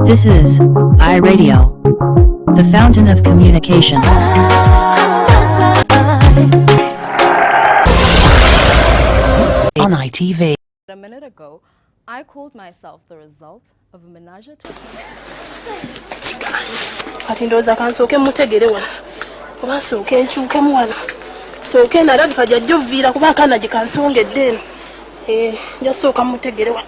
This is iRadio, the fountain of communication. On ITV. A minute ago, I called myself the result of a menage a trois. kati ndowooza kansooke mutegere wano oba nsooke nkyukemu wano sooke nalabika jajja oviira kuba akaana gye kansongedde eno nja sooka mutegere wano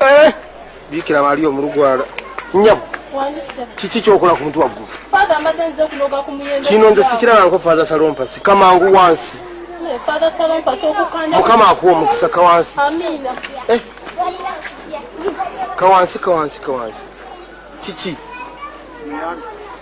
Eh, bikira bali omulugwala nyabo kiki kyokola ku mutu waggulu kino nze sikirabanko fatha salompasi kamangu wansi mukama akuwa omukisa kawansi eh. kawansi kawansi kawansi kiki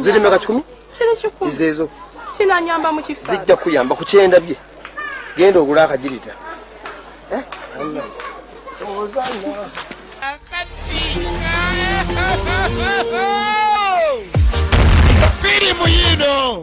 ziri meka kikumi izeezo kinanyamba mu kifa zijja kuyamba ku kyenda bye genda ogula akagirita eh? firimu yino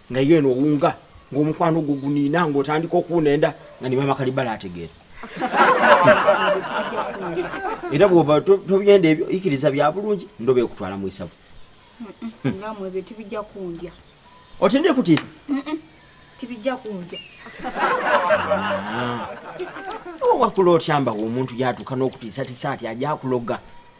naye eno owunga ng'omukwano ogwo guniina ng'otandika okuwunenda nga ne maama kalibala ategeera era bwoba tobyenda ebyo ikiriza bya bulungi ndoba ekutwala mu isabu ngamwe ebyo tibijja kundya otende kutiisa tibijja kundya ah. wakula otyambawo omuntu yatuuka n'okutiisatiisa ati ajakuloga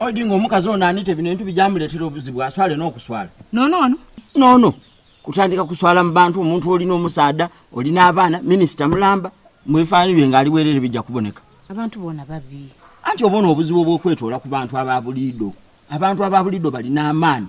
Odi nga omukazi ono anite bino bintu bijamuleetera obuzibu aswale n'okuswala nonono nono kutandika kuswala mu bantu omuntu olina omusaada olina abaana minisita mulamba mwefaanyi bye ngaali bwerere bijja kuboneka abantu bona babi anti obona obuzibu obwokwetoola ku bantu abaabuliido abantu abaabuliido balina amaani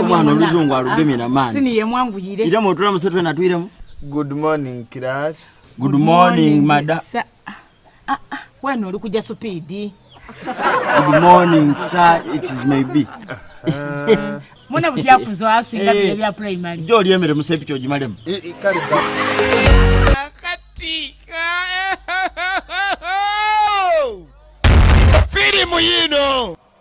omwana oluzungu alugemye na maani sini yemwanguyire ira mwotula musetwe natwiremu good morning class good morning mada sa ah, ah, wena oli kuja supidi good morning sir it is may be uh, mwana butyakuzo asinga bye eh, bya primary jo oli emere musepi kyo jimalemu eh, eh, kale kati filimu yino